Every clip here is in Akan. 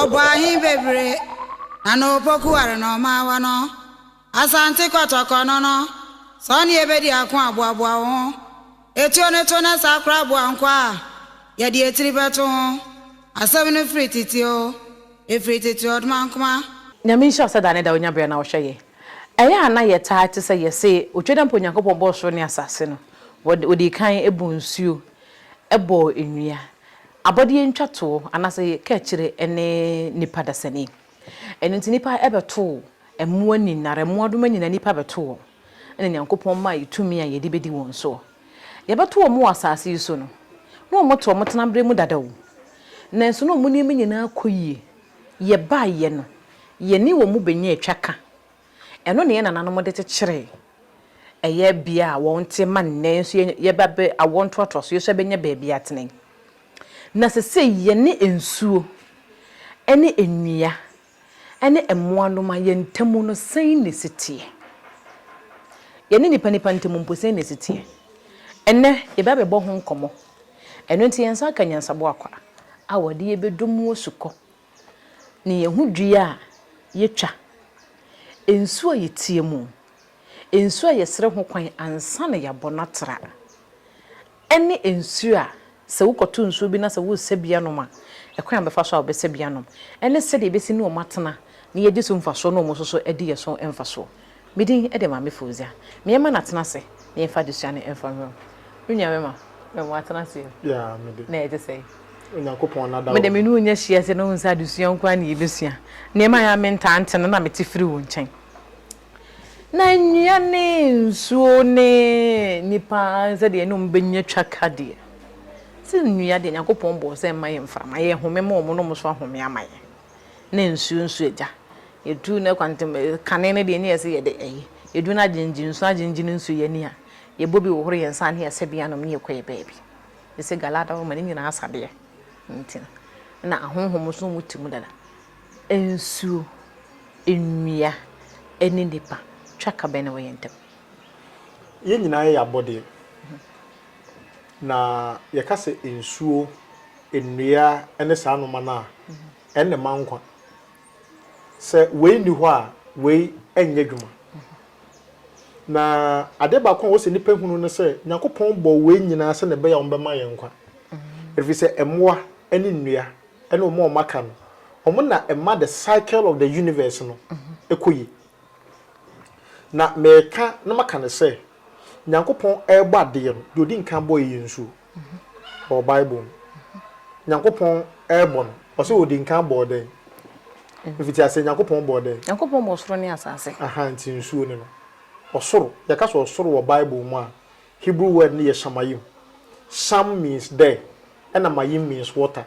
Ɔbɔ ahe bebree na na opoku ware na ɔma awa no? Asante Kɔtɔkɔ no no, sɛ ɔne yɛ bɛdi ako a, boaboa wo ho. Etuo no to na saa koraa boa nkwa a yɛde etiri bɛto ho. Asɛm no firi tete oo, efiri tete ɔdmankma. Nyame nhyira wo sɛ da ne da wonya berɛ na wohwɛ yɛn. Ɛyɛ a na yɛtaa te sɛ yɛse otwa da mpo Nyankopɔn bɔɔ soro ne asase no, Ɔdii kan buu nsuo bɔɔ nnua, abɔdeɛ ntwatoɔ anaasɛ yɛka akyire ne nnipa dasani. Ɛno nti nnipa bɛtoo mmoa nyinara, mmoadoma nyinaa nnipa bɛtoo wɔn, ɛna Nyankopɔn maa yɛ tumi a yɛde bɛdi wɔn soɔ. Yɛbɛto wɔn wɔ asaase yi so no, na wɔn te wɔn tenaberɛ mu dada o, nanso na wɔn nneɛma nyinaa kɔ yie, yɛbaeɛ no, yɛne wɔn bɛnya atwa ka. Ɛno na yɛn nananom de kyekyeree ɛyɛ bea a wɔte ma nnɛ nso yɛba bɛ awoɔ ntoatoasoɔ yi nso yɛbɛnya baabi atena yi. Na sesei yɛne nsuo ne nnua ne mmoanoma yɛn ntamu no sɛn na ɛsi teɛ? Yɛne nnipa nnipa ntamu mpo sɛn na ɛsi teɛ? Ɛnnɛ yɛba bɛbɔ ho nkɔmmɔ. Ɛno nti yɛn nsa aka nyansaboa kwa a wɔde yɛbɛdɔ mu asukɔ. ne yɛn ho dua a yɛtwa, nsuo a yɛteɛ mu, nsuo a yɛsrɛ ho kwan ansa na yɛabɔ no atra, ne nsuo a sɛ wokɔto nsuo bi na sɛ woresɛ bi anom a, ɛkwan a wobɛfa so a wobɛsɛ bi anom, ne sɛdeɛ yɛbɛsi ne wɔn atena na yɛadi so mfasoɔ na wɔn nso so adi yɛn so mfasoɔ. Me din de Maame Fauzia. Me yɛma no atena ase na yɛmfa adesua no mfa nwura mu. Me nua me ma, me ma atena ase o. Yeah, me de. Na ɛte sɛn? Onyankopɔn na da Me de me ne wo nya hyia sɛ na wohu sɛ adesua nko ara na yɛbɛsua. Nneɛma a ɛyɛ a mentaa nte no na mete firi wo nkyɛn. Na nnua ne nsuo ne nnipa sɛdeɛ yɛne wɔn bɛnya twa ka deɛ, sɛ nnua deɛ Nyankopɔn bɔɔ sɛ mma yɛ mframa, yɛhome ma wɔn na wɔn nso ahome ama yɛn. na nsuo nso agya. Yɛduru no kwan ntam kane no deɛ ne yɛsɛ yɛde ɛyi. Yɛduru no agyenegye nsuo agyenegye no nsuo yɛani ha. Yɛbɔ bi hohoro yɛn nsa ne yɛsɛ bi anom ne yɛkɔ yɛn baabi. Ɛsɛ Galaad hɔ ma ne nyinaa asa deɛ nti no. Ɛna ahonhom nso wɔn te mu dada. Nsuo, nnua ne nnipa twa ka bɛn na ɛwɔ yɛn ntam? Yɛn nyinaa yɛ abɔdeɛ. Na yɛka sɛ nsuo. nnua ne saa nnoɔma no a, ɛnna ɛma nkwa. Sɛ wei nni hɔ a, wei nyɛ adwuma. Na adeɛ baako a ɛwɔ sɛ nnipa hunu ne sɛ, Nyankopɔn bɔɔ wei nyinaa sɛdeɛ ɛbɛyɛ a wɔbɛma yɛn nkwa. Ɛfiri sɛ mmoa ne nnua ne wɔn a wɔaka no, wɔn na ɛma the cycle of the universe no kɔ yie. Na mereka na maka no sɛ, Nyankopɔn rebɔ adeɛ no, deɛ ɔdi nkan bɔeɛ yɛ nsuo. wɔ Bible mu. Nyankopɔn rebɔ no, ɔse odi nkan bɔɔ dɛn? Mfitiaseɛ Nyankopɔn bɔɔ dɛn? Nyankopɔn bɔɔ soro ne asase. Aha, nti nsuo ne no. Ɔsoro, yɛka sɛ ɔsoro wɔ Bible mu a, Hebrew word no yɛ shamayim. Sham means there, ɛna mayim means water.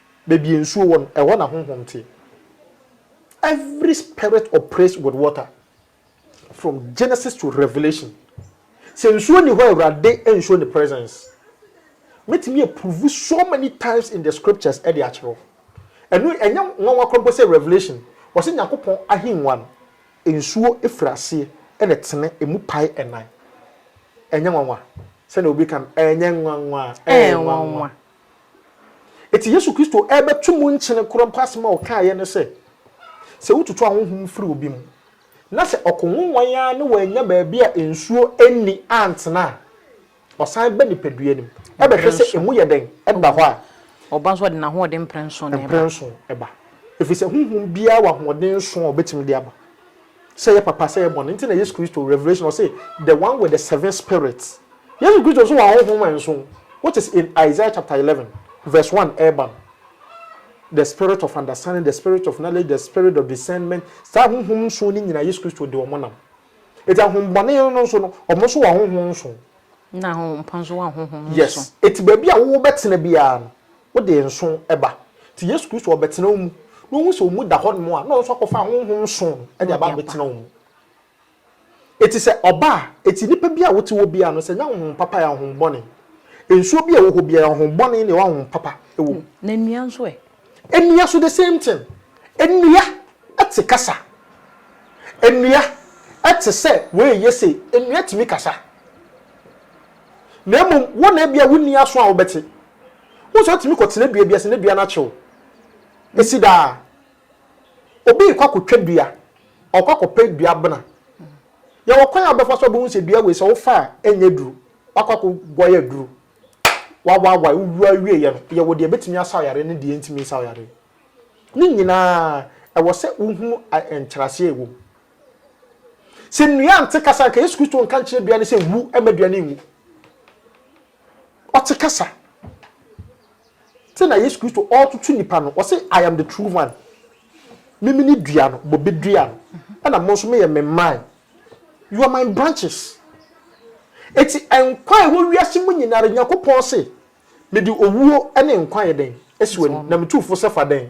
Baabi a nsuo wɔ no, ɛhɔ na honhom te. Every spirit operates with water from Genesis to Revelation. Sɛ nsuo nni hɔ a, Awurade nsuo ne presence. Mɛtumi approve so many times in the scriptures de akyerɛ wo. Ɛno ɛnyɛ nwanwa koraa mpo sɛ Revelation, wɔse Nyankopɔn ahengua no, nsuo firi aseɛ ɛna ɛtene, ɛmu pae ɛnan. Ɛnyɛ nwanwa. Sɛdeɛ obi ka no, ɛnyɛ nwanwa, ɛyɛ nwanwa. Enti Yesu Kristo rebɛto mu nkyene koro mpo asɛm a ɔkaeɛ ne sɛ, Sɛ wotutu ahonhom firi obi mu, na sɛ ɔko nwonwan ara ne wannya baabi a nsuo nni antena a, ɔsan ba nipadua no mu bɛhwɛ sɛ emu yɛ dɛn da hɔ a, Ɔba nso a, ɔde n'ahoɔden mprɛnson na ɛba. Mprɛnson ba. Ɛfiri sɛ honhom biara wɔ ahoɔden nson a ɔbɛtumi de aba. sɛ yɛ papa sɛ yɛ bɔne nti na Yesu Kristo revelation ɔse the one with the seven spirits Yesu Kristo nso wɔ ahonhom nson which is in Isaiah chapter eleven verse one ɛɛba no the spirit of understanding the spirit of knowledge the spirit of discernment saa ahonhom nson no nyina Yesu Kristo de ɔmo nam eti ahombɔne no nso no ɔmo nso wɔ ahonhom nson. Nna honhom pa nso wɔ ahonhom nson. Yes eti baabi a wo bɛtena biara no. Wode nsõ ba. Nti Yesu Kristo ɔrebɛtena wo mu, na ɔhu sɛ wo mu da hɔnom a, na ɔno nso akɔfa honhom nsõ no de aba abɛtena wo mu. Enti sɛ ɔba a, enti nipa biara a wote hɔ biara no, sɛ ɛnyɛ honhom papa yɛ ahonhommɔne. Nsuo bi a ɛwɔ hɔ biara, ahonhommɔne ne ahonhom papa wɔ mu. Na nnua nso ɛ? Nnua nso the same thing. Nnua te kasa. Nnua te sɛ wei yɛ sei. Nnua tumi kasa. na mmom wo na ebia wonni aso a wobɛte. Wohu sɛ wotumi kɔtena dua bi ase na dua no akyew si daa. Obi rekɔ akɔtwa dua, ɔkɔ akɔpɛ dua abena. Yɛwɔ kwan a wobɛfa so a wobɛhu sɛ dua wei sɛ wofa a ɛnyɛ duru, wakɔ akɔguare aduru, wawaawae, wowu awieeɛ no, yɛwɔ deɛ ɛbɛtumi asaw yareɛ ne deɛ ɛntumi nsaw yareɛ. Ne nyinaa, ɛwɔ sɛ wohunu nkyerɛaseɛ a ɛwɔ mu. Sɛ nnua nte kasa anka Yesu Kristo nka nkyerɛ dua no sɛ nwu ɛma dua no nwu. Ɔte kasa. Sɛ na Yesu Kristo ɔretoto nipa no, ɔse I am the true vine. Mimi ne dua no, bobe dua no. Ɛna mo nso moyɛ me mman. You are my branches. Eti nkwa a ɛwɔ wiase mu nyinara Nyankopɔn se mede owuo ne nkwa yɛ dɛn? Esi w'ani. Na metu fo sɛ fa dɛn?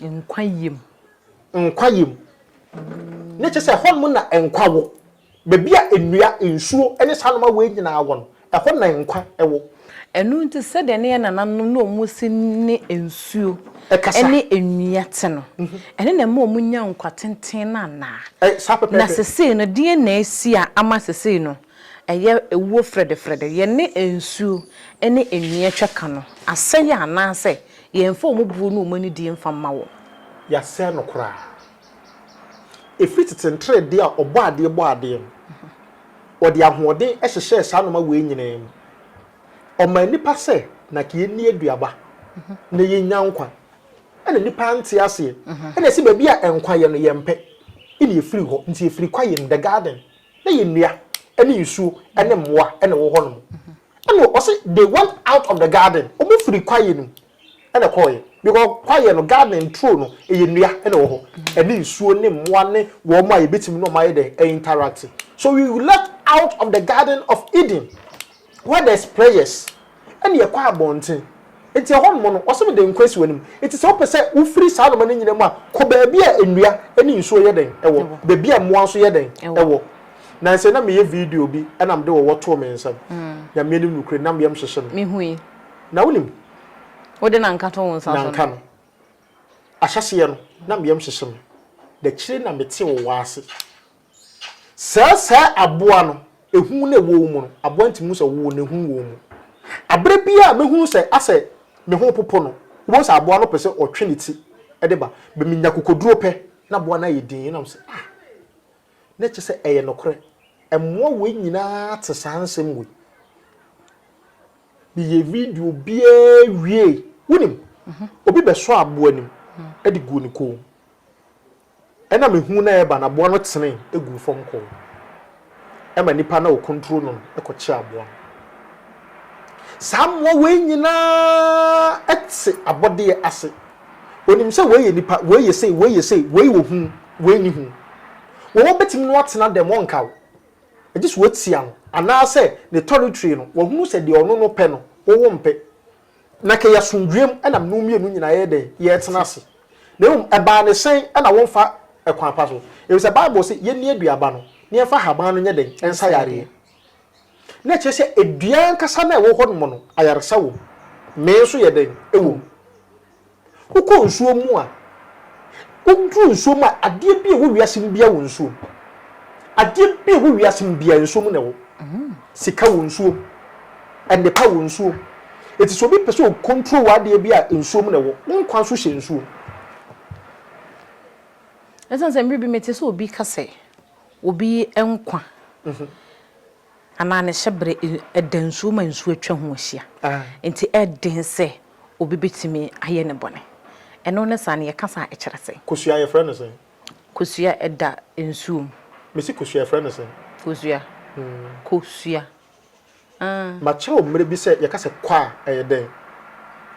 Nkwa yam. Nkwa yam. Ne kyerɛ sɛ ɛhɔ nom na nkwa wɔ. Baabi a nnua, nsuo ne saa nnoɔma wei nyinaa wɔ no, ɛhɔ na nkwa wɔ. Ɛno nti sɛdeɛ ne yɛn nananom ne wɔn si ne nsuo ne nnua te no, ɛno na ɛma wɔnya nkwa tenten no anaa? Na sesei no deɛn na asi a ama sesei no Ɛyɛ ɛwuo frɛdɛfrɛdɛ. Yɛne nsuo ne nnua twa ka no. Asɛeɛ anaasɛ yɛmfa wɔn buo ne wɔn anidie mfa mma wɔn. Yɛasɛe no koraa. Ɛfiri tete nteredee a Ɔbɔadeɛ bɔɔ adeɛ no, Ɔde ahoɔden hyehyɛɛ saa nnoɔma wei nyinaa mu. Ɔmaa nnipa sɛ na ka yɛnni aduaba na yɛnya nkwa. Ɛna nnipa ante aseɛ. Ɛna ɛse baabi a nkwa yɛ no yɛmpɛ. Ɛna ɛfiri hɔ. Nti ɛfiri kwa yɛ mu, the garden. na yɛ nnua ne nsuo ne mmoa na ɛwɔ hɔ nom ɛna ɔse they went out of the garden ɔmo firi kwaeɛ no mu ɛna ɛkɔɔyɛ because kwaeɛ no garden nturo no ɛyɛ nnua na ɛwɔ hɔ ɛne nsuo ne mmoa ne wɔn a yɛbɛtumi ne ɔmo ayɛ dɛ interact so we left out of the garden of Eden What does prayers ɛne ɛkɔ abɔnten nti ɛhɔ nom no wɔse mede nkwa asi w'anim nti sɛ wopɛ sɛ wofiri saa noma no nyina mu a kɔ baabi a nnua ne nsuo yɛ dɛn ɛwɔ baabi a mmoa nso yɛ dɛn ɛwɔ nansɛ na meyɛ video bi ɛna mede wɔwɔ too me nsam Nyame anim nukure nam yam hyehye me mehui na wonim wode nanka to wo nsa so nanka no ahyɛseɛ no nam yam hyehye me dakyire na mete wo wɔ ase Sɛ saa aboa no, ehu na ɛwɔ wo mu no, aboa no tumi hu sɛ wowɔ mu na ehu wɔ wo mu. Bere biara a mɛhunu sɛ asɛ me ho repopo no, wobɛhu sɛ aboa no pɛ sɛ ɔtwe ne ti de ba. Bɛ menya akokoduro pɛ na aboa no ayɛ dinn na me sɛ, ah, na kyerɛ sɛ ɛyɛ nokorɛ. Mmoa wei nyinaa te saa nsɛm wei. Meyɛ video biara wiei, wonim, obi bɛsɔ aboa anim de guu ne kɔn mu. Ɛnna mehuu no a ɛreba no, aboa no tenee guu fam kɔɔ ɛma nnipa no a wɔkontro no no kɔkyee aboa no. Saa mmoa wei nyinaa te abɔdeɛ ase. Wɔnim sɛ wei yɛ nipa, wei yɛ sei, wei yɛ sei, wei wɔ hu, wei nni hu. Wɔn wɔbɛtumi ne no atena dɛm, wɔnka wo, gye sɛ wɔatia no, anaasɛ ne tɔretire no, wɔahunu sɛ deɛ ɔno no pɛ no, wo wompɛ. Na kɛ yasomdwoeɛm na mnom mmienu nyinaa yɛyɛ dɛn? Yɛtena ase. Na mmom ɛbaa ne sɛn na womfa ɛkwan pa so? Efisɛ Bible se yɛnni aduaba no na yɛmfa haban no nyɛ dɛn? Ɛnsa yareɛ. Na ɛkyerɛ sɛ dua ankasa no a ɛwɔ hɔ nom no ayaresa wom. Mee nso yɛ dɛn? Ɛwom. Wokɔ nsuo mu a, woduru nsuo mu a, adeɛ bi a ɛwɔ wiase mu biara wɔ nsuo mu. Adeɛ bi a ɛwɔ wiase mu biara nsuo mu na ɛwɔ. Sika wɔ nsuo mu. Nnepa wɔ nsuo mu. Eti sɛ obi pɛ sɛ ɔkɔntro wɔ adeɛ bi a nsuo mu na ɛwɔ. Wo nkwa nso hyɛ nsuo mu. Ɛsiane sɛ mmerɛ bi mete sɛ obi ka sɛ obi nkwa. Anaa ne hyɛberɛ da nsuo ma nsuo atwa ho ahyia, enti ɛyɛ den sɛ obi bɛtumi ayɛ no bɔne. Ɛno ne saa no, yɛka saa a, ɛkyerɛ sɛn? Kosua, yɛfrɛ no sɛn? Kosua da nsuo mu. Mese kosua, yɛfrɛ no sɛn? Kosua, kosua, ah. Makyerɛ wo mmerɛ bi sɛ yɛka sɛ kɔ a, ɛyɛ dɛn?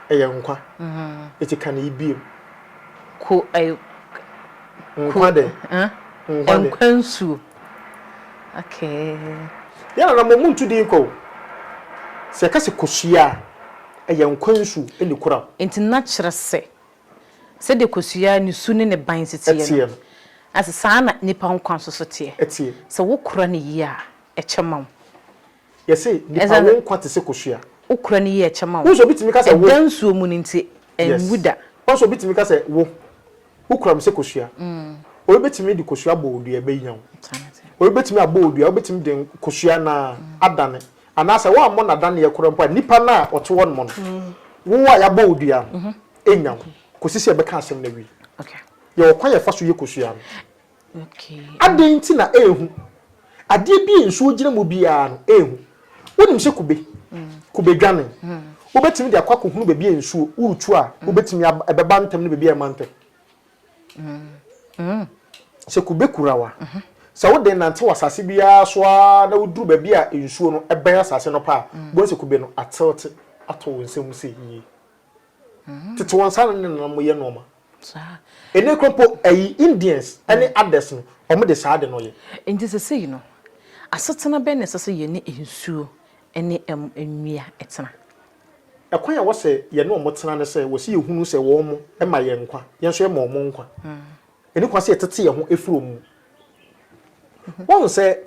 Ɛyɛ nkwa. Enti ka ne yi bio. Ko, ɛyɛ. Nkwa dɛn? Nkwa nsuo. Okay. Yɛn anammɔn mu ntu din kwa o. Sɛ yɛka sɛ kosua a, ɛyɛ nkwa nsu na ekura wo. Enti na kyerɛ sɛ, sɛdeɛ kosua ne su ne ne ban si teɛ no, na sɛ saa ara na nnipa nkwa nso so teɛ. Sɛ wokora no yie a, ɛkyɛ ma wo. Yɛse nipa wo nkwa te se kosua. Wo kura no yie kyɛ ma wo. Ɛda nsuo mu no nti ɛnwu da. Wohu sɛ obi tumi ka sɛ wo. Wo kura me sɛ kosua. Obi bɛtumi de kosua abɔ wo dua ɛbɛnya wo. Obi bɛtumi abɔ wo dua wobɛtumi de kosua no ara adane. Anaasɛ woammɔ no adaneɛ koraa mpo a nipa no a ɔte hɔ nom no wo a yɛabɔ wo dua no ɛnya wo kɔsi sɛ yɛbɛka asɛm no awie. Yɛwɔ kwan a yɛfa so yɛ kosua no. Adɛn nti na ɛyɛ hu? Adeɛ bi a nsuo gyina mu biara no, ɛyɛ hu. Wonim sɛ kube, kube dwane. Wobɛtumi de akɔ akɔhunu baabi a nsuo, woretu a, wobɛtumi ab, ɛbɛba ntɛm ne baabi a ɛmma ntɛm. Sɛ kube kura wo a, sɛ wode nante wɔ asase biara so ara na woduru baabi a nsuo no ɛbɛn asase no pɛ a, wobɛhu sɛ kube no atelte ato wo nsa mu sɛ yie. Tete wɔn nsa ano ne nanam yɛ nnoɔma. Saa. Ɛnɛ kura mpo ɛyi Indians ɛne others no wɔn de saa ade no yɛ. Nti sɛsɛyi no asetena bɛn na ɛsɛ sɛ yɛne nsuo ɛne ɛm nnua ɛtena? Ɛkwan a wɔsɛ yɛne wɔn tena ne sɛ wɔsɛ yɛ hunu sɛ wɔn ɛma yɛn nkwa, yɛn nso yɛma wɔn nkwa. Ɛni kwan sɛ yɛ tete yɛn ho ɛfiri wɔn mu. Woahu sɛ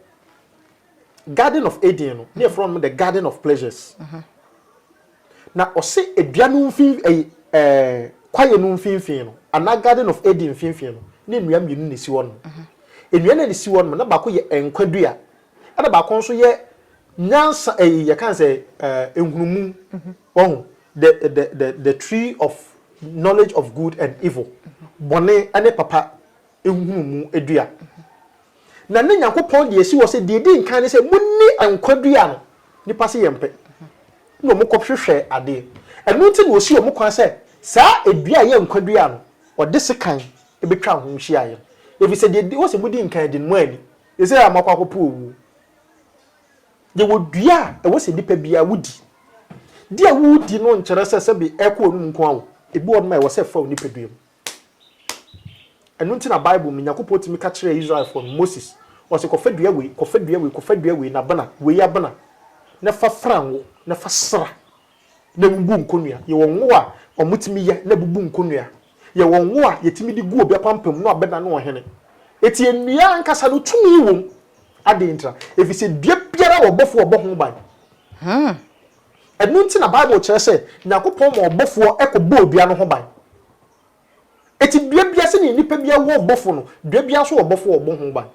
garden of Eden no, ne yɛfrɛ wɔn the garden of pleasures. Na ɔse dua no mfinf ɛyi ɛɛ kwaeɛ no mfinfin no anaa garden of Eden mfinfin no na nnua mmienu na esi hɔ nom. Nnua no a esi hɔ nom no na baako yɛ nkwa dua ɛna baako nso yɛ nyansa ɛyi yɛka no sɛ ɛɛ nhunumu wahu the the the the tree of knowledge of good and evil bɔne ɛne papa nhunu mu dua. Na na Nyankopɔn de asi hɔ sɛ deɛ ɛdi nkan ne sɛ monni nkwa dua no. Nnipa se yɛmpɛ. Na wɔn kɔhwehwɛ adeɛ. Ɛno nti na ɔsii wɔn kwan sɛ saa dua a ɛyɛ nkwa dua no, ɔde sekan bɛtwaa ho hyiaeɛ. Ɛfiri sɛ deɛ ɔse modi nkan de no moanni. Seesei a moakɔ akɔpo owuo. Yɛwɔ dua a ɛwɔ sɛ nnipa biara wodi. Deɛ woredi no nkyerɛ sɛ sɛbe ɛrekɔ w'anom nko ara o. Ebi wɔ hɔnom a ɛwɔ sɛ ɛfa wo nipadua mu. Ɛno nti na Bible mu no, Nyankopɔn tumi ka kyerɛɛ Israelfoɔ no, Moses, ɔse, kɔfa dua wei, kɔfa dua wei, kɔfa dua wei, n'abena, wei abena, na fa fra ngo, na fa sra, na bubu nkonnua. Yɛwɔ ngo a wɔtumi yɛ na ɛbubu nkonnua. Yɛwɔ ngo a yɛtumi de gu obi apampam na wabena ne ɔhene. Enti nnua ankasa no, tumi wom. Adɛn ntira? Ɛfiri sɛ dua biara wɔ ɔbɔfoɔ a ɔbɔ ho ban. Hmm, Ɛno nti na Bible kyerɛ sɛ Nyankopɔn ma ɔbɔfoɔ kɔ bɔɔ dua no ho ban. Eti dua biara sɛdeɛ nnipa biara wɔ ɔbɔfoɔ no, dua biara nso wɔ ɔbɔfoɔ a ɔbɔ ho ban.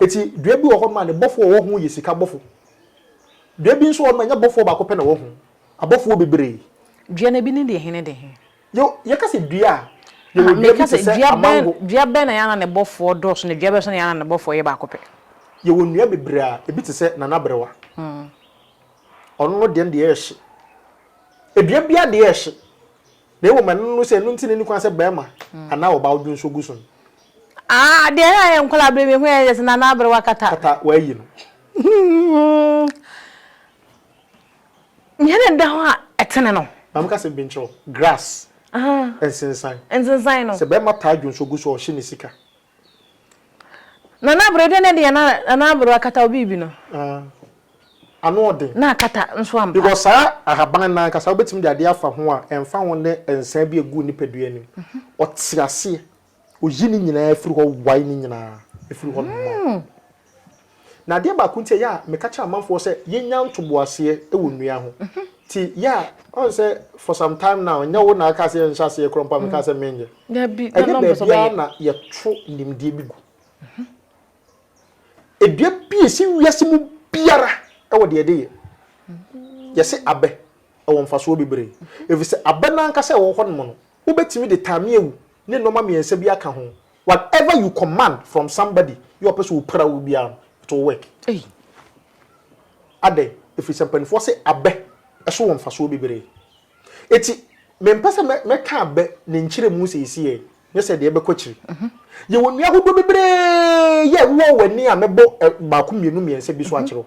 Eti dua bi wɔ hɔ nom a ne bɔfoɔ a ɔwɔ ho yɛ sika bɔfo. Dua bi nso wɔ hɔ nom a ɛnyɛ bɔfoɔ baako pɛ na ɔwɔ ho, abɔfoɔ bebree. Dua no ebi ne dehe ne dehe? Yo, yɛka sɛ dua a, yɛwɔ dua bi te sɛ amango. Dua bɛn na yɛn ananebɔfoɔ dɔɔso na dua bɛn nso na yɛn ananebɔfoɔ yɛ baako pɛ? Yɛwɔ nnua bebree a ebi te sɛ nanaberewa. Ɔno no deɛ no deɛ ɛyɛ hye. Dua biara deɛ yɛ hye. Na mmom ɛno no no sɛ ɛno nti na ɛnni kwan sɛ barima anaa ɔbaa wodwo nso gu so no. Ah, deɛ na yɛn nkwadaa berɛ mehu yɛn yɛ sɛ nanaberewa kata. Kata, wɔayi no. Nea na ɛda hɔ a ɛtene no. Maame ka sɛ binkyɛw, grass, nsensan. Nsensan no. Sɛ barima taa dwo nso gu so a ɔhye ne sika. Nana Abere, dɛn na ɛde yɛn Nana Abere akata wo biribi no? Ah, ano ɔden. Na akata nso ampa. Because saa ahaban no ankasa wobɛtumi de adeɛ afa ho a ɛmfa ho ne nsa bi a ɛgu wo nipadua anim. Ɔte aseɛ. Oyi ne nyinaa firi hɔ wae ne nyinaa firi hɔ noma. Na adeɛ baako nti a yɛ a meka kyerɛ amanfoɔ sɛ yɛnya ntoboaseɛ wɔ nnua ho nti yɛ a ɔn sɛ for some time now nyɛ wo na aka sɛ yɛnhyɛ aseɛ korɔ mpo a mekaa sɛ menyɛ. Ɛnyɛ baabiara na yɛto nimdeɛ bi gu. Dua bi a ɛsi wiase mu biara wɔ deɛ ɛde yɛ. Yɛse abɛ ɛwɔ mfasoɔ bebree ɛfiri sɛ abɛ no ankasa a ɛwɔ hɔnom no wobɛtumi de tame awu ne nnoɔma mmiɛnsa bi aka ho. Whatever you command from somebody yɛ ɔpɛ sɛ ɔpira wo biara no, it will work. Ei! Adɛn? Ɛfiri sɛ mpanimfoɔ se abɛ so wɔ mfasoɔ bebree. Enti mempɛ sɛ mɛ, mɛka abɛ ne nkyerɛmu seesei, nyɛ sɛ ɛdeɛ ɛbɛkɔ akyiri. Yɛwɔ nnua ahodoɔ bebree yɛ ɛwowɔ w'ani a mɛbɔ ɛ, baako, mmienu, mmiɛnsa bi so akyerɛ wo.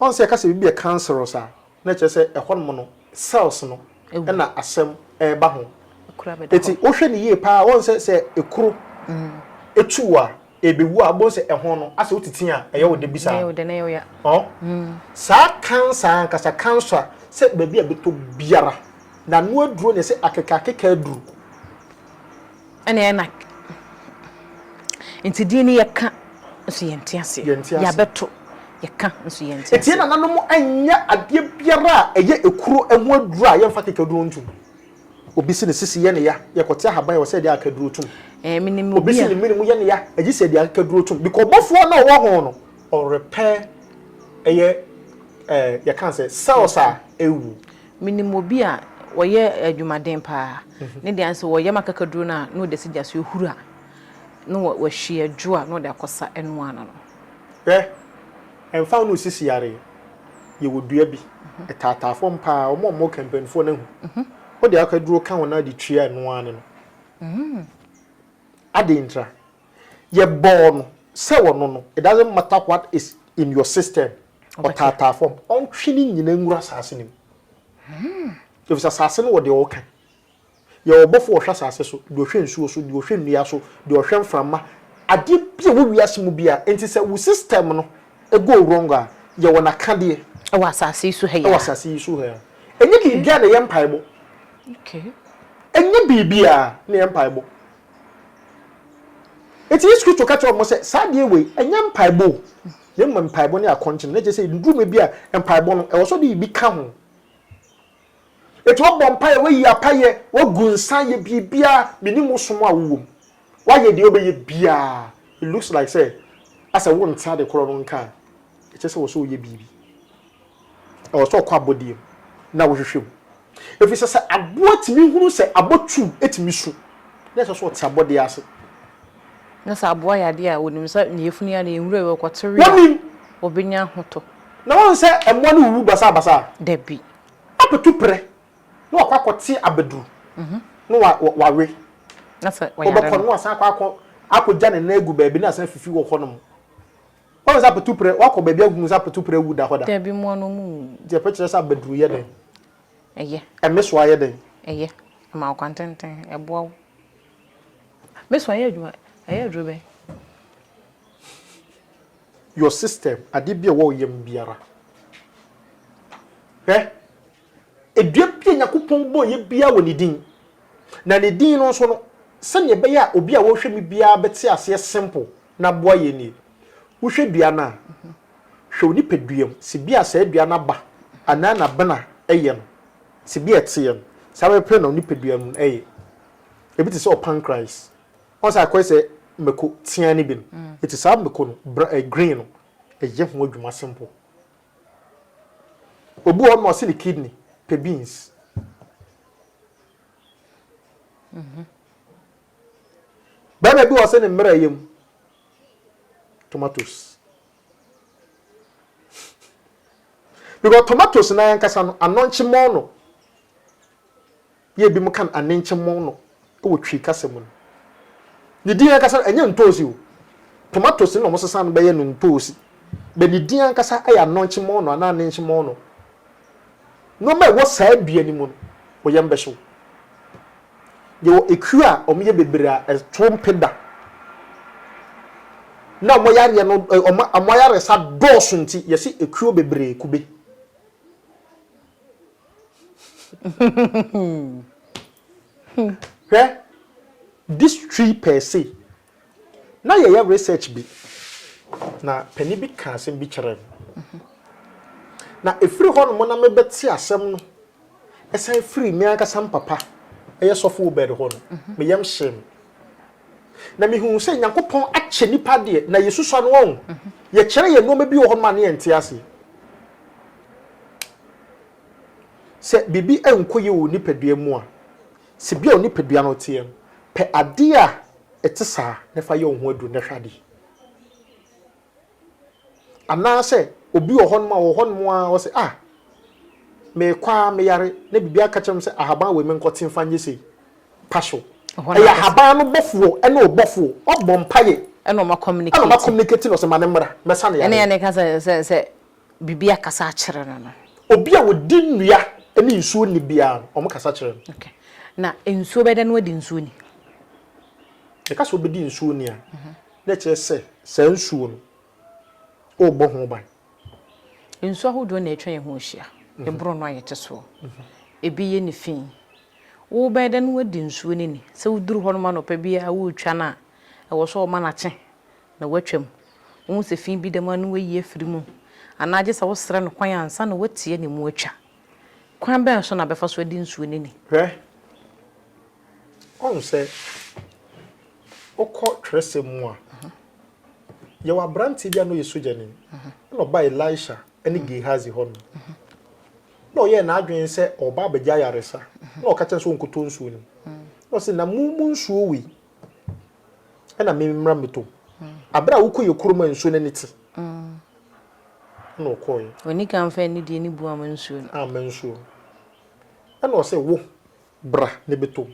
Wɔn sɛ yɛka sɛ biribi yɛ cancerous a, na ɛkyerɛ sɛ ɛhɔ nom no cells no na asɛm reba ho. Eti wohwɛ no yie paa a, wɔn sɛ sɛ ekuro etu wo a, ebewu a, wobɛhu sɛ ɛho no asɛ wotete a, ɛyɛ wo de bi saa. Ɔ saa cancer ankasa cancer sɛ baabi a ɛbɛtɔ biara, n'ano aduro na ɛsɛ akeka akeka aduru. Ɛna ɛna nti din no yɛ ka nso yɛ nte aseɛ. Yɛ nte aseɛ. Yɛ abɛto yɛ ka nso yɛ nte aseɛ. Ɛti yɛ nana nom ɛnyɛ adeɛ biara a ɛyɛ ekuro ɛho aduro a yɛ nfa kekaduro ntum. Obi se ne sisi yɛ ne ya, yɛ kɔte ahaban wɔ sɛ ɛde akekaduro tum. Ɛɛ me nim obi a. Obi se ne mene mu yɛ ne ya, ɛgye sɛ ɛde akekaduro tum. Bikɔ ɔbɔfoɔ na ɔwɔ ho no, ɔrepɛ ɛyɛ ɛɛ yɛ ka sɛ cells a ɛwu. Menim obi a ɔyɛ adwumaden paa, ne deɛ nso ɔyam akakaduro no a na ɔde asi gya so ɛhuru a na wahwie adwo a na ɔde akɔsa ɛno ano no. Hwɛ, ɛmfa ho ne osisi yare, yɛwɔ dua bi, ɛtaataa fam paa, wɔn a wɔka mpanimfoɔ no ahu, wode akakaduro ka ho na wode tua ɛno ara ano no. Adɛn ntira? Yɛbɔɔ no sɛ wɔno no, it doesn't matter what is in your system, ɔtaataa fam, ɔntwe ne nyinaa nwura asase no mu. Efisɛ asase no wɔ deɛ ɔka. Yɛwɔ ɔbɔfo a ɔhwɛ asase so, deɛ ɔhwɛ nsuo so, deɛ ɔhwɛ nnua so, deɛ ɔhwɛ mframa, adeɛ bi a ɛwɔ wiase mu biara. Enti sɛ wo system no go wrong a, yɛwɔ n'akadeɛ. Ɛwɔ asase yi so ha yi ara. Ɛwɔ asase yi so ha yi ara. Ɛnyɛ biribiara na ɛyɛ mpaebɔ. Ɛnyɛ biribiara na ɛyɛ mpaebɔ. Enti Yesu Kristo ka kyerɛɛ wɔn sɛ, Saa adeɛ wei, ɛnyɛ mpaebɔ o, na mmom mpaebɔ ne akɔnkyen. Na kyerɛ sɛ, nnuruma bi a mpaebɔ no, ɛwɔ sɛ ɔde biribi ka ho. Enti woabɔ mpaeɛ, woayi apayɛ, woagu nsa ayɛ biribiara, menim wo som a wowɔ mu, woayɛ deɛ wobɛyɛ biara, it looks like sɛ asɛ wonte ade korɔ no nka a, ɛkyerɛ sɛ ɛwɔ sɛ woyɛ biribi. Ɛwɔ sɛ ɔkɔ abɔdeɛ mu na wohwehwɛ mu, ɛfiri sɛ sɛ aboa tumi hunu sɛ abɔtuo tumi su na ɛsɛ sɛ ɔte abɔdeɛ ase. Na sɛ aboa yɛ adeɛ a ɔnim sɛ ne yafunu yɛ a ne yɛ nwura yɛ ɔkɔ te we a, ɔbɛnya ahotɔ. Na woahu sɛ mmoa no wuwu basaa basaa? Dabi. Abɛtu prɛ na wakɔ akɔte abaduru na wawe. Na sɛ ɔyare no? Ɔbɛkɔ na wasan akɔ akɔgya ne nan agu baabi na asan afifi wɔ hɔnom. Ɔyɛ sɛ apatuprɛ, woakɔ baabi ahu sɛ apatuprɛ awu da hɔ da? Dabi, mmoa no ɔmo nwui. Nti ɛpɛ kyerɛ sɛ abaduru yɛ dɛn? Ɛyɛ. Ɛmesoa yɛ dɛn? Ɛyɛ. Ɛma wo kwan tenten, ɛboa wo. Mesoa yɛ adwuma, ɛyɛ aduro bɛn? Your system, adeɛ bi a ɛwɔ wo yam biara. Hwɛ. Dua bi a Nyankopɔn bɔeɛ biara wɔ ne din, na ne din no nso no, sɛdeɛ ɛbɛyɛ a obi a ɔrehwɛ me biara bɛte aseɛ simple na aboa yɛn nie. Wohwɛ dua no a, hwɛ wo nipadua mu, sɛ bi a saa dua no aba anaa n'abena yɛ no, sɛ bi a ɛteɛ no, saa ara pɛ na wo nipadua mu yɛ. Ebi te sɛ wo pancreas, woahu sɛ akɔyɛ sɛ mako teaa no bi no, ɛte saa mako no, bra, ɛɛ, green no, ɛyɛ ho adwuma simple. Obi wɔ hɔ na ɔse ne kidney pɛ beans. Bɛrima bi wɔ ɔse ne mmerɛ yam tomatoes. Because tomatoes no ankasa no anɔnkye mɔɔ no. Yɛ binom ka no anenkye mɔn no wɔ Twi kasa mu no. Ne din ankasa no, ɛnyɛ ntoosi o. Tomatoes na wɔsesa no bɛyɛ no ntoosi. But ne din ankasa yɛ anɔnkye mɔn no anaa anenkye mɔn no. Nnoɔma a ɛwɔ saa dua no mu no, wo yam bɛhye wo. Yɛwɔ ekuo a wɔyɛ bebree a ɛto mpe da. Na wɔn yareɛ no, wɔn ayaresa dɔɔso nti, yɛse ekuo bebree kube. Hwɛ, this tree per se, na yɛyɛ research bi, na panin bi kaa asɛm bi kyerɛɛ me. Na ɛfiri hɔnom na mebɛte asɛm no, ɛsan firi me ankasa me papa, ɛyɛ sɔfo Obed hɔ no, me yam hyee me. Na mehuu sɛ Nyankopɔn akyɛ nnipa deɛ, na yɛsusua no, wahu. Yɛkyerɛ yɛn nnoɔma bi wɔ hɔnom a na yɛnte aseɛ. Sɛ biribi nkɔ yie wɔ wo nipadua mu a, sɛdeɛ wo nipadua no teɛ no, pɛ adeɛ a ɛte saa na fa yɛ wo ho aduro na hwɛ adeɛ. Anaasɛ obi wɔ hɔnom a, wɔ hɔnom a ɔsɛ ah, mekɔ a meyare na biribi aka kyerɛ me sɛ ahaban wei menkɔte mfa nyɛ sei. Pa so. Ɛyɛ ahaban no bɔfoɔ ne wo bɔfoɔ, ɔbɔ mpaeɛ ɛna ɔma communicate na ɔsɛ ma no mmra, mɛsa no yareɛ. Ɛne ɛne ka sɛ sɛ sɛ biribi akasa akyerɛ no no. Obi a ɔdi nnua ne nsuo nni biara no, wɔkasa kyerɛ no. Ok. Na nsuo bɛda no adi nsuo ni? Yɛka sɛ wobɛdi nsuo ni a, na ɛkyerɛ sɛ saa nsuo no, worebɔ ho ban. Nsuo ahodoɔ na atwa yɛn ho ahyia. Ɛboro no a yɛte soɔ. Ɛbi yɛ ne fi. Wobɛda no adi nsuo no ni. Sɛ woduru hɔnom anɔpa biara woretwa no a, ɛwɔ sɛ wɔma no akye na watwam. Wohu sɛ fi bi da mu a na wayi afiri mu anaa gye sɛ wosrɛ no kwan ansa na wateɛ ne mu atwa. Kwan bɛn so na bɛfa so adi nsuo no ni? Hwɛ, woahu sɛ wokɔ twerɛsɛm mu a, yɛwɔ aberanteɛ bi a na ɔyɛ sogyani, na ɔbaa Elisha ne Gehazi hɔ no, na ɔyɛɛ n'adwene sɛ ɔreba abɛgye ayaresa, na ɔka kyerɛ sɛ ɔnkɔtɔ nsuo no. Na ɔse, na mo mu nsuo wei, ɛna me mmra me tɔm abere a wokɔ yɛ kurom a nsuo n'ani te ɛna ɔkɔɔ yɛ ɔni kan fɛ ne deɛ ne bu ama nsuo no ama nsuo ɛna ɔsɛ wo bra ne bɛtɔm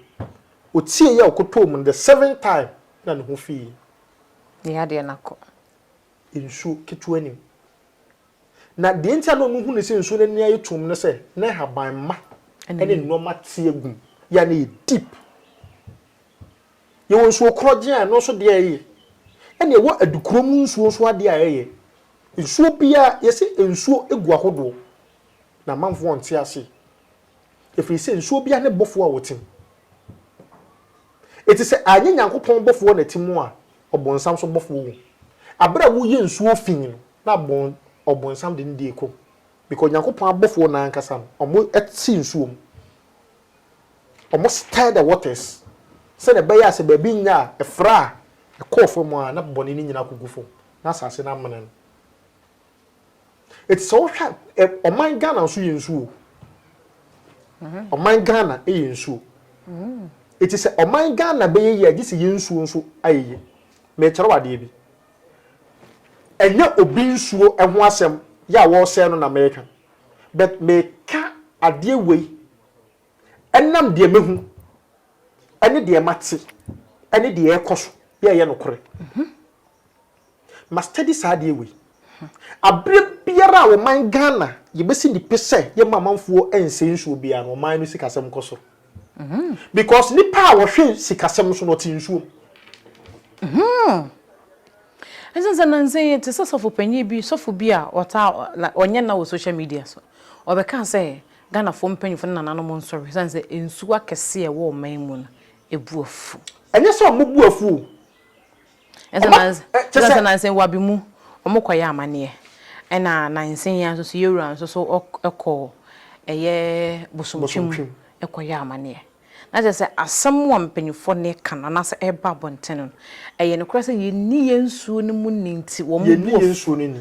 ɔtie yɛ a ɔkɔtɔɔ mu no the seven time na ne ho fii yɛ ne yɛ adeɛ nakɔ nsuo ketewa nim na deɛ nti a na ɔno hu ne sɛ nsuo n'ani ayɛ tum no sɛ na haban ma ɛne nneɛma teɛ gum yɛ a na yɛ deep Yɛwɔ nsuo korɔgyen a ɛno nso adeɛ a ɛyɛ. Ɛna yɛwɔ adukorɔ mu nsuo nso adeɛ a ɛyɛ. Nsuo biara, yɛse nsuo gu ahodoɔ. Na amanfoɔ ɔnte aseɛ. Ɛfiri sɛ nsuo biara ne bɔfoɔ a ɔte mu. Enti sɛ anyɛ Nyankopɔn bɔfoɔ na ɛte mu a, ɔbonsam nso bɔfoɔ wɔ mu. Aberɛ a woyɛ nsuo fii no, na ɔbonsam de ne deɛ kɔ mu. Bika Onyankopɔn abɔfoɔ no ara ankasa no, wɔte nsuo mu. Wɔn stir the waters, sɛdeɛ ɛbɛyɛ a sɛ baabi nnya a, ɛfra a, ɛkɔɔ fam a, na bɔne no nyinaa kɔgu fam, na asase no amene no. Enti sɛ wohwɛ a, ɛ, ɔman Ghana nso yɛ nsuo o. Mm-hmm. Ɔman Ghana yɛ nsuo. Mm-hmm. Eti sɛ ɔman Ghana bɛyɛ yie a, gye sɛ yɛn nsuo nso ayɛ yie. Mekyerɛ wo adeɛ bi. Ɛnyɛ obi nsuo ho asɛm yɛ a wɔresɛe no na mereka but meka adeɛ wei ɛnam deɛ mahu ɛne deɛ mate ɛne deɛ ɛrekɔ so yɛ ɛyɛ nokorɛ. Ma study saa adeɛ wei. Aberɛ biara a ɔman Ghana yɛbɛsi ne pi sɛ yɛmma amanfoɔ nsɛe nsuo biara no ɔman no sikasɛm kɔ soro. Because nipa a ɔhwɛ sikasɛm so no ɔte nsuom. Ɛsane sɛ nansa yi te sɛ sɔfo panyin bi, sɔfo bi a ɔtaa ɔnyɛ nna wɔ social media so. Ɔbɛkaa sɛ Ghanafoɔ mpanyinfoɔ ne nananom nsɔre ɛsane sɛ nsuo akɛseɛ a ɛwɔ ɔman mu no ɛbu afu. Ɛnyɛ sɛ wɔbu afu o, Ɛsɛ nansen wabi mu wɔn kɔ yɛ amaneɛ ɛna nansen yi nso so yɛwura nso so ɛkɔ ɛyɛ bosomtwi mu ɛkɔ yɛ amaneɛ na kyerɛ sɛ asɛm a mpanyinfoɔ ne ka no anaasɛ ɛba abɔnten no ɛyɛ no korɛ sɛ yɛnni yɛn nsuo no mu ni nti wɔn bu wɔn nsuo no ni.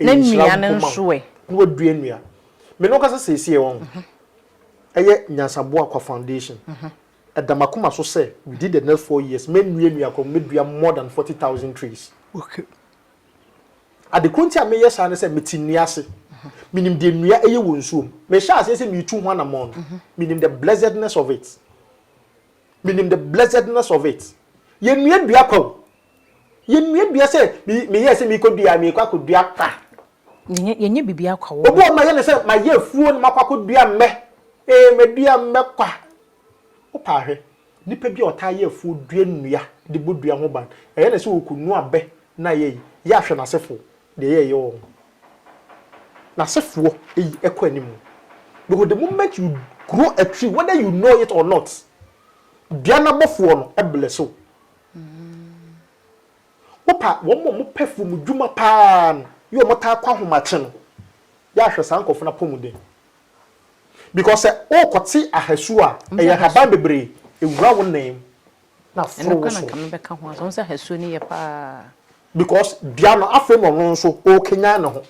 Na Ɛyɛ nhyira nnuane nko ma nso ɛ? wo. Na wadua nnua. Me ne wo kasa seesei, wahu. Ɛyɛ Nyansaboa Kwa Foundation. Ɛda m'akoma so sɛ, within the next four years, mɛnnua nnua koraa, mɛdua more than forty thousand trees. Okay. Ade koro nti a meyɛ saa ne sɛ, mete nnua ase. Menim deɛ nnua yɛ wɔ nsuo mu. Mehyɛɛ aseɛ sɛ meretu ho anammɔn no, menim the blessedness of it. Menim the blessedness of it. Yɛnnua dua kwa o, Yɛnnua dua sɛ meyɛɛ sɛ merekɔ dua a merekɔ akɔdua kwa. Yɛnyɛ biribiara kwa wɔ hɔ. Obi wɔ hɔ mayɛ no sɛ mayɛ afuo na makɔ akɔdua mmɛ. Ee madua mmɛ kwa. Wopa hwɛ, nipa bi a ɔtaa yɛ afuo dua nnua de bɔ dua ho ban, ɛyɛ no sɛ ɔkɔnu abɛ na ayɛ yi, yɛ ahwɛ n'asefoɔ deɛ ɛyɛ ɛyɛ wɔn. N'asefoɔ ɛyi ɛkɔ anim. Because the moment you grow a tree whether you know it or not, dua no abɔfoɔ no bless wo. Wopa wɔn a wɔpɛ fomdwuma paa no yɛ a wɔtaa kɔ ahomakye no yɛ a hwɛ saa nkurɔfo no apɔmuden because sɛ worekɔte ahasu a ɛyɛ nhaban bebree ɛwura wo nan mu na aforo wo so because dua no afei na ɔno nso ɔrekanyan ne ho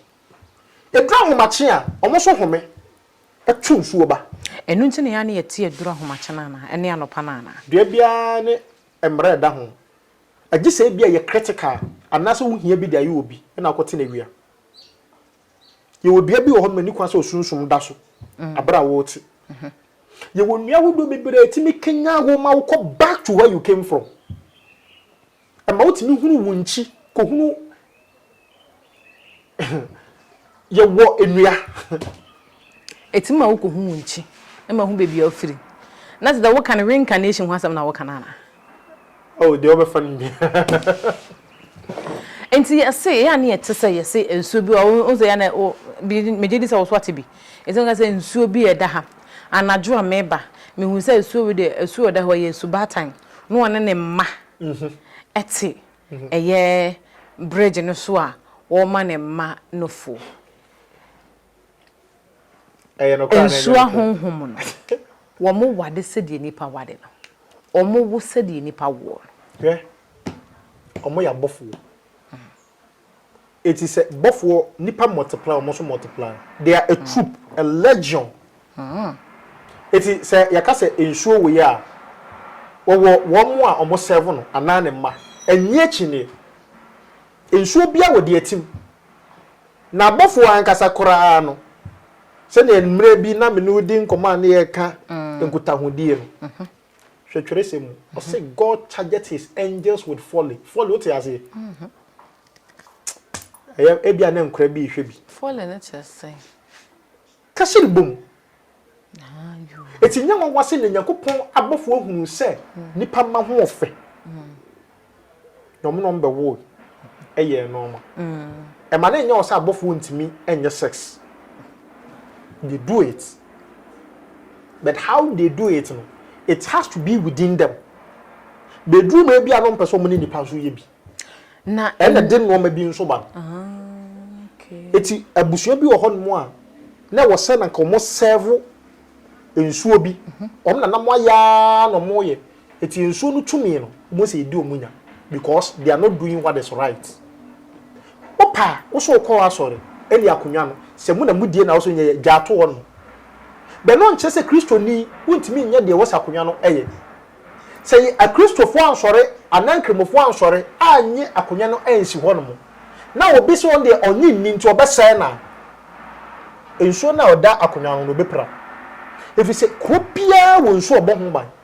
ɛduru ahomakye a wɔn nso home to nsuo ba. Ɛno nti na yɛn ano yɛ te aduru ahomakye no anaa? Ɛne anɔpa no anaa? Dua biara ne mmerɛ a ɛda ho. Ɛgye sɛ ebia ɛyɛ critical anaasɛ wo hia bi de ayɛ obi na wokɔ te no awia. Yɛwɔ dua bi wɔ hɔ nom a ɛnni kwan sɛ osunsum da so aberɛ a wote. Yɛwɔ nnua ahodoɔ bebree a ɛtumi kanyan wo ma wokɔ back to where you came from. Ɛma wotumi hunu wo nkyi kɔhunu yɛwɔ nnua. Ɛtumi ma wokɔhu wo nkyi na mahu baabi a wofiri. Na te dɛ woka no reincarnation ho asɛm na woka no anaa? Oh, deɛ wobɛfa no biara. Nti yɛse ɛyɛ a ne yɛte sɛ yɛse nsuo bi hɔ a, wohu sɛ ɛyɛ a na wo, megye di sɛ wo nso woate bi. Ɛsɛ woka sɛ nsuo bi ɛda ha. Anadwo a meba, mehunu sɛ asuo wei deɛ, asuo a ɛda hɔ ɛyɛ asubaatan. Na ɔne ne mma te ɛyɛ bridge no so a ɔrema ne mma no fuo. Nsuo ahonhom no, wɔware sɛdeɛ nnipa ware no, wɔwo sɛdeɛ nnipa woɔ no. Hwɛ, wɔyɛ abɔfoɔ. Eti sɛ bɔfoɔ, nnipa multiply, wɔn nso multiply. They are a troop, a legion. Eti sɛ yɛka sɛ nsuo wei a, wɔwɔ wɔn a wɔn serve no anaa ne mma. Ɛnyɛ akyinnye. Nsuo biara wɔ deɛ ɛtim. Na abɔfoɔ ankasa koraa no, sɛdeɛ mmerɛ bi na me ne wo di nkɔmmɔ a na yɛreka nkutahodie no, Hwɛ twerɛsɛm mu. Ɔse God chargeth his angels with folly. Folly, wote aseɛ? Ɛyɛ ebia na nkora bi rehwɛ bi. Folly no kyerɛ sɛn? Kasiri bom. Eti nyɛ nwanwa sɛ nea Nyankopɔn abɔfoɔ hunu sɛ nnipa mma ho ɔfɛ. na wɔn na wɔn bɛwoo yɛɛ nnoɔma. Ɛma no nyɛ wɔ sɛ abɔfoɔ ntumi nyɛ sex. They do it. But how they do it no, it has to be within them. Bɛduru ma ebi a no mpɛ sɛ wɔn ne nipa nso yɛ bi. Na ɛna de nnoɔma bi nso ba no. Eti abusua bi wɔ hɔ nom a na ɛwɔ sɛ na nka wɔn sɛɛvo nsuo bi. Wɔn na nam ayɛ ara na wɔn yɛ. Eti nsuo no tumi no wɔn sɛ yɛdi wɔn nya because they are not doing what is right. Wo pɛ a wo so wo kɔ asɔre ɛne akonwa no sɛ mo na mo die na wo so nyɛ yɛ gyaa to hɔ nom. Bɛ no nkyerɛ sɛ kristoni wo ntumi nyɛ deɛ ɛwɔ sɛ akonwa no yɛ. Sɛ yɛ akristofoɔ ansɔre anaa nkramofoɔ ansɔre annye akonwa no ansi hɔ nom na obi sɛ ɔno deɛ ɔnye nni nti ɔbɛ sɛɛ no a nsuo no a ɔda akonwa ho no ɔbɛ pira. Ɛfiri sɛ kuro biara wɔ nsuo a ɔbɔ ho ban.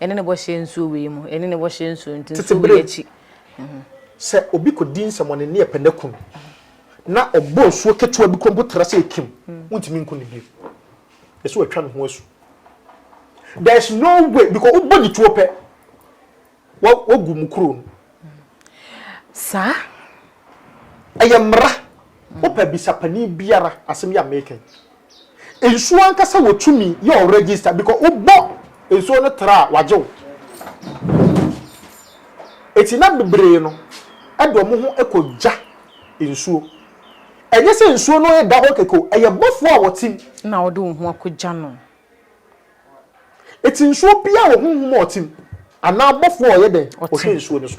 Ɛne ne bɔhyɛ nsuo wei mu. Ɛne ne bɔhyɛ nsuo nti nsuo wei akyi. Sɛ obi kɔdi nsɛmɔne ne ɛpɛ n'aku no, na ɔbɔ nsuo ketewa bi kura mpo tra sɛ ɛkim, wontumi nku no bio. Ɛsɛ sɛ watwa ne ho asu. There is no way because wobɔ ne tuo pɛ, wagu mo kuro no. Saa. Ɛyɛ mmara. Wopɛ bisa panin biara asɛm yi a mereka yi. Nsuo ankasa wɔ tumi yɛ wo register because wo bɔ nsuo no tra a wagye wo. Eti na bebree no ɛde wɔn ho ɛkɔ gya nsuo. Ɛnyɛ sɛ nsuo no ɛda hɔ kɛkɛ o, ɛyɛ bɔfoɔ a wɔte mu. Na wode wo ho akɔ gya no. Eti nsuo biara wɔ honhom a ɔte mu anaa bɔfoɔ a ɔyɛ dɛn? Ɔhwɛ nsuo no so.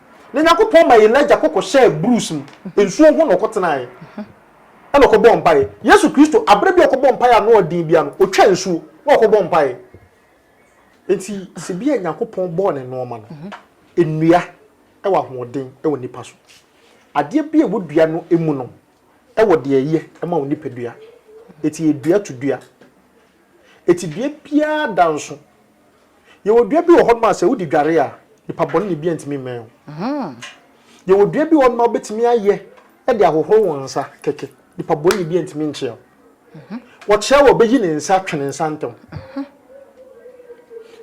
Na Nyankopɔn ma Elijah kɔ kɔhyɛɛ Bruce mu nsuo ho na ɔkɔtenaeɛ ɛna ɔkɔbɔɔ mpaeɛ. Yesu Kristo, aberɛ bi a ɔkɔbɔɔ mpaeɛ a ano yɛ den bia no, ɔtwaa nsuo na ɔkɔbɔɔ mpaeɛ. Enti sɛ bia Nyankopɔn bɔɔ ne nnoɔma no, nnua wɔ ahoɔden wɔ nnipa so. Adeɛ bia ɛwɔ dua no mu no wɔ deɛ ɛyɛ ma wo nipadua. Enti ɛyɛ dua to dua. Enti dua biara da nso Yɛwɔ dua bi wɔ hɔnom a sɛ wode dware a, nipa bɔne ne bia ntumi mmɛn wo. Yɛwɔ dua bi wɔ hɔnom a wobɛtumi ayɛ de ahohoro wo nsa kɛkɛ, nipa bɔne ne bia ntumi nkyea wo. Wɔkyea wo a, ɔbɛyi ne nsa atwe ne nsa ntɛm.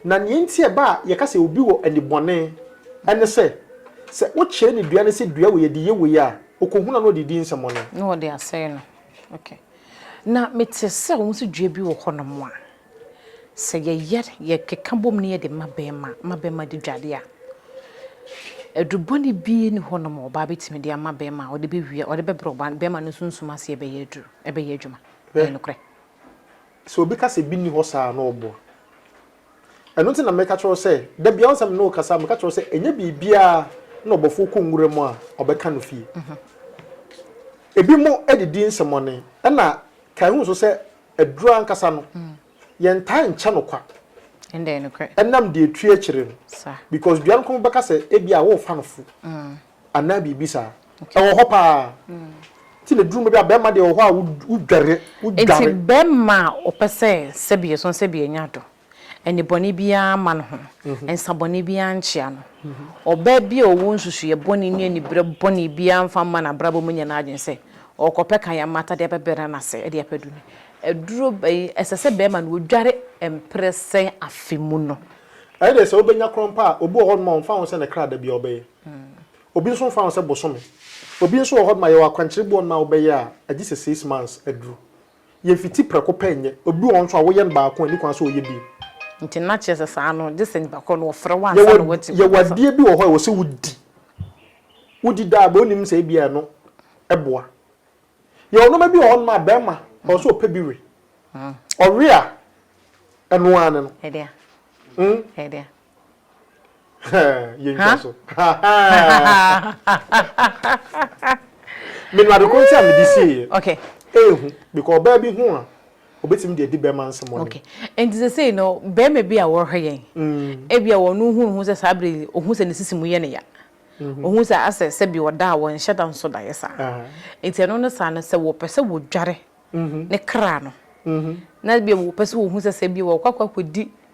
Na nea nti a ɛba a yɛka sɛ obi wɔ anibɔne ne sɛ, sɛ wokyerɛ no dua no sɛ dua wei yɛde yɛ wei a, ɔkɔhunu a na ɔde redi nsɛmmɔne. Na ɔde asɛe no. Okay. Na mete sɛ wɔn nso dua bi wɔ hɔnom a. Sɛ yɛyɛ, yɛkeka bom na yɛde ma bɛrima ma bɛrima di dware a, aduru bɔne biara nni hɔnom a ɔbaa bɛtumi de ama bɛrima a ɔde bɛwia, ɔde bɛbrɛ ɔbaa no, bɛrima no sunsum ase ɛbɛyɛ aduru, ɛbɛyɛ adwuma. Hwɛ, Ɛyɛ nokorɛ. sɛ obi ka sɛ bi nni hɔ saa a, na ɔboa. Ɛno nti na meka kyerɛ wo sɛ, da biara wo sɛ me ne wo kasa a, meka kyerɛ wo sɛ ɛnyɛ biribiara na ɔbɔfoɔ kɔ nwura mu a ɔbɛka no fie. Ebinom de di nsɛmmɔne, ɛna kae hu nso sɛ Aduru ankasa no, yɛntaa nkyɛ no kwa ɛnam deɛ ɛtue akyire no. Because dua no kɔn bɛka sɛ ebia worefa no fo anaa biribi saa. Ɛwɔ hɔ pa ara. Nti na ɛduru baabi a barima deɛ wɔ hɔ a wodware, wodware. Nti barima a ɔpɛ sɛ sɛbi yɛ so sɛbi yɛnya do. nnebɔne biara mma no ho, nsa bɔne biara nkyea no. Ɔbaa bi a ɔwɔ nsusuiɛ bɔne ne aniberɛ bɔne biara mfa mma n'abrabɔ mu nyɛ n'adwene sɛ ɔrekɔpɛ kan mmata de abɛbrɛ n'ase de apɛ aduro no. Aduro bɛn? Ɛsɛ sɛ barima no ɔdware mprɛ sɛn afe mu no? Ɛyɛ dɛ sɛ wobɛnya korɔn pa a, obi wɔ hɔnom a ɔmfa ho sɛ ne kra da biara ɔbɛyɛ. Obi nso mfa ho sɛ bosome. Obi nso wɔ hɔnom a yɛwɔ akwankyerɛ bi wɔ hɔnom a wobɛyɛ a, agye sɛ six months aduru. Yɛmfiti prɛko pɛ nyɛ. Obi wɔ hɔ nso a, woyɛ no baako a, ɛnni kwan sɛ ɔyɛ bi. Nti na kyerɛ sɛ saa no, gye sɛ nnipa korɔ no ɔfrɛ wo ansa na woate Yɛwɔ ɔkasa. adeɛ bi wɔ hɔ a ɛwɔ sɛ wodi. Wodi daa bɛ, wonim sɛ ebia ɛno boa. Yɛwɔ nnoɔma bi wɔ hɔnom a, barima ɛwɔ sɛ ɔpɛ bi we. Ɔwe a, ɛno ara ne no. Ɛdeɛn? Mm. Ɛdeɛn? yɛntwa so menu adekoro nti a mede sieɛ okay. ehu because ɔbaa bi ho a obetumi de adi bɛrima nsɛm ɔne okay. nti sɛ sei no bɛrima bi a wɔhwɛ yɛn mm. ebi a wɔn ho hu sɛ saa bere ohun sɛ ne sisi mu yɛ ne ya mhm. ohun sɛ asɛ sɛ bi ɔda a wɔnhyɛ da nso da yɛ saa ah. nti ɛno ne saa no sɛ wɔpɛ sɛ wɔdware mhm. ne kra no mhm. na bi wɔpɛ sɛ wɔhu sɛ sɛ bi wɔkɔ akɔ akɔdi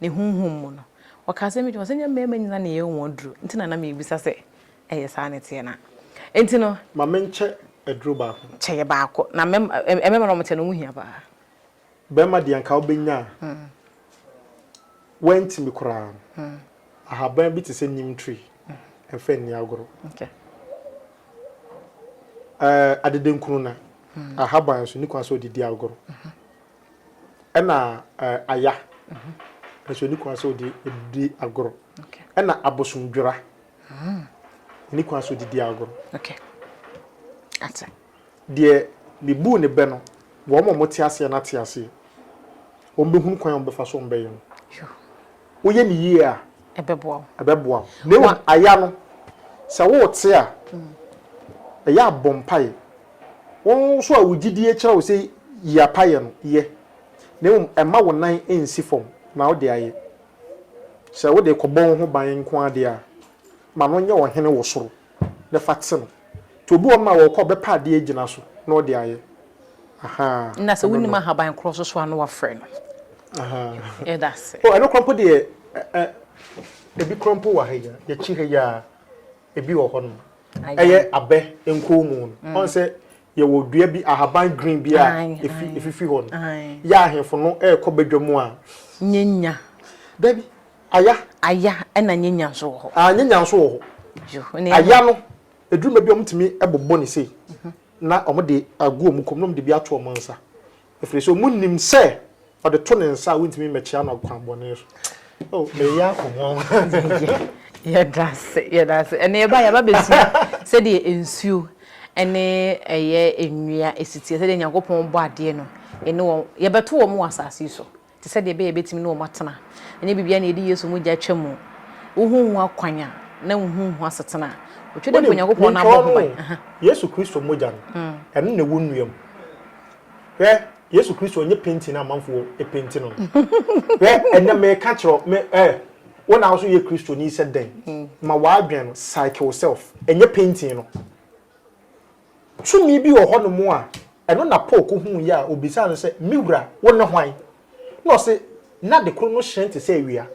Ne honhom mu no, ɔkaa sɛ, Medwene sɛ ɛnyɛ mmarima nyinaa na ɛyɛ wɔn aduru nti na na merebisa sɛ ɛyɛ saa na ɛteɛ no a. Enti no. Ma menkyɛ aduru baako. Kyɛ yɛ baako. Na mmarima no, wɔkyɛ no, wɔn ho hia paa. Barima deɛ anka wobɛnya a, woantumi koraa no, ahaban bi te sɛ neem tree, mfa nni agorɔ. Adedankunu no, ahaban nso, nni kwan sɛ wode di agorɔ. ɛna aya nso ni kwan sɛ ɔde di agorɔ ɛna abosomdwera ni kwan sɛ ɔde di agorɔ deɛ mebuu ne bɛ no wɔn a wɔte aseɛ no ate aseɛ wɔn bɛhunu kwan a wɔbɛfa so wɔn bɛyɛ no woyɛ no yie a, ɛbɛboa wo. ɛbɛboa wo. Na mmom, aya no, sɛ worete a, ɛyɛ a bɔ mpaeɛ. Wo nso a wo gyedie kyerɛ wo sɛ yi apa yɛ no, yɛ. Na mmom, mma wo nan nsi fam na wode ayɛ. Sɛ wode rekɔbɔ wo ho ban nko ara deɛ a, ma no nyɛ ɔhene wɔ soro. na fa te no. Nti obi wɔ hɔ nom a ɔɔkɔ ɔbɛpɛ adeɛ agyina so na ɔde ayɛ. Ahaa. Nna sɛ wonim ahaban korɔ so so a na wafrɛ no. Ahaa. Yɛda ase. Oh, ɛno korɔ mpo deɛ ɛ, ɛ, ebi korɔ mpo wɔ ha yi a, yɛkyi ha yi a, ebi wɔ hɔ nom. Ɛyɛ abɛ nkɔnmu no. Ɔhu sɛ yɛwɔ dua bi, ahaban green bi a efi, efifi hɔ no. Yɛ ahemfo no ɛɛkɔ badwa mu a. Nyɛ nya. Dabi. Aya. Aya ɛna nyanya nso wɔ hɔ. Aa nyanya nso wɔ hɔ. Yo ne. Aya no ɛduru baabi a wɔn tumi bobɔ no sei na wɔn de agu wɔn kɔn mu na wɔn de bi ato wɔn nsa ɛfiri sɛ wɔn nim sɛ ɔde to ne nsa a wɔn ntumi mmɛkyea no kwan bɔne so. Oh me ya kɔ ho. Yɛda ase yɛda ase ɛna yɛba yɛba bɛsua sɛdeɛ nsuo ɛne ɛyɛ nnua ɛsiteɛ sɛdeɛ Nyankopɔn bɔ adeɛ no ɛne wɔn yɛbɛto wɔn wɔ asase so. te sɛ deɛ ɛbɛyɛ a ɛbɛtumi ne wɔn atena. Ɛnyɛ biribiara na yɛde Yesu mogya atwa mu. Wohunhu akwan a, na wohunhu asetena a. Otwa dɛ mpo Wonim, Nyankopɔn na menka abɔ ho wɔn ban. o, Aha. Yesu Kristo mogya no, ɛno na ɛwɔ nnua mu. Hwɛ, Yesu Kristo, ɛnyɛ painting a amanfoɔ painti no no. Hwɛ, ɛnnɛ meka kyerɛ wo, me, eh, wo na wo nso yɛ Kristoni sɛ dɛn? Ma w'adwene no, psyche wo self, ɛnyɛ painting no. Tumi bi wɔ hɔnom a ɛno na Paul kohuui a obisaa no sɛ, Me Wura, wone hwan? Na ɔse, Na ade koro no hyerɛn te sɛ awia.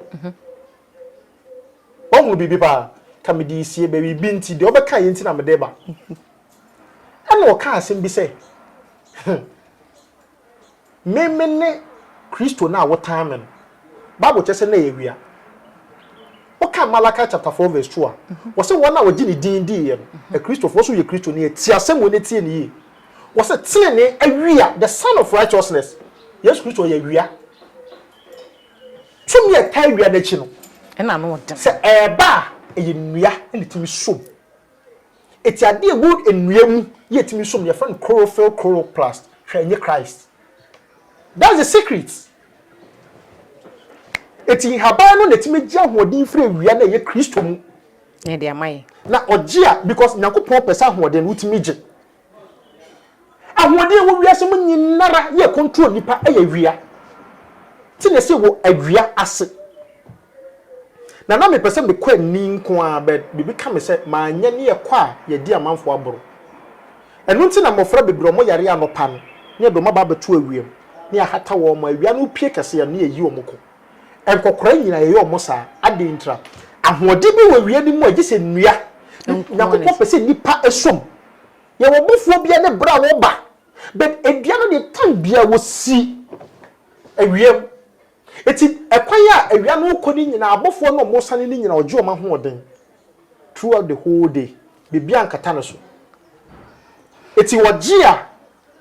Woahunu biribi paa? Ka mede resie, biribi nti, deɛ wobɛkaeɛ nti na mede reba. Ɛna ɔkaa asɛm bi sɛ, He! Me mene Kristo no a wotan me no. Bible kyerɛ sɛ na ɛyɛ wia. Wokan Malachi chapter four verse two a, wɔsɛ wɔn a wɔgye ne din diiɛ no, Akristofo, wɔsɛ woyɛ Kristo ni a, tie asɛm wei na tie no yie. Wɔsɛ tenenee awia, the sun of righteousness. Yesu Kristo ɔyɛ wia. Tumi a ɛtaa awia no akyi no, sɛ ɛreba a, ɛyɛ nnua na ɛtumi som. Etse ade a wood nnua mu ye etumi som yɛfrɛ no chlorophyll chloroplast hwɛ enye Christ that's the secret etse nhaban no na etumi gye ahoɔden firi awia na ɛyɛ Kristo mu. Na ɛde ama yɛn. Na ɔgye a because Nyankopɔn pɛ sɛ ahoɔden no wotumi gye Ahoɔden a ɛwɔ wiase mu nyinara yɛ ɛkɔntro nnipa yɛ awia. Ti na ɛsɛ wɔ awia ase. Na na mepɛ sɛ mekɔ ani nko ara but biribi ka me sɛ manyɛ ne yɛkɔ a yɛadi amanfoɔ aboro. Ɛno nti na mmɔfra bebree a wɔyare anɔpa no ne yɛde wɔn aba abɛto awia mu ne yɛahata wɔn ma awia no repue kɛse no ne yɛayi wɔn kɔ. Nkɔkora nyinaa yɛyɛ wɔn saa. Adɛn ntira? Ahoɔden bi wɔ awia no mu a gye sɛ nnua. Nyankopɔn pɛ sɛ nnipa som. Yɛwɔ bofuo bia ne berɛ a wɔba but dua no deɛ time biara wɔsi awia mu ɛti ɛkwan a awia no rekɔ no nyinaa abofoɔ no a wɔresane no nyinaa ɔgye wɔn ahoɔden throughout the whole day biribiara nkata no so ɛti wɔgye a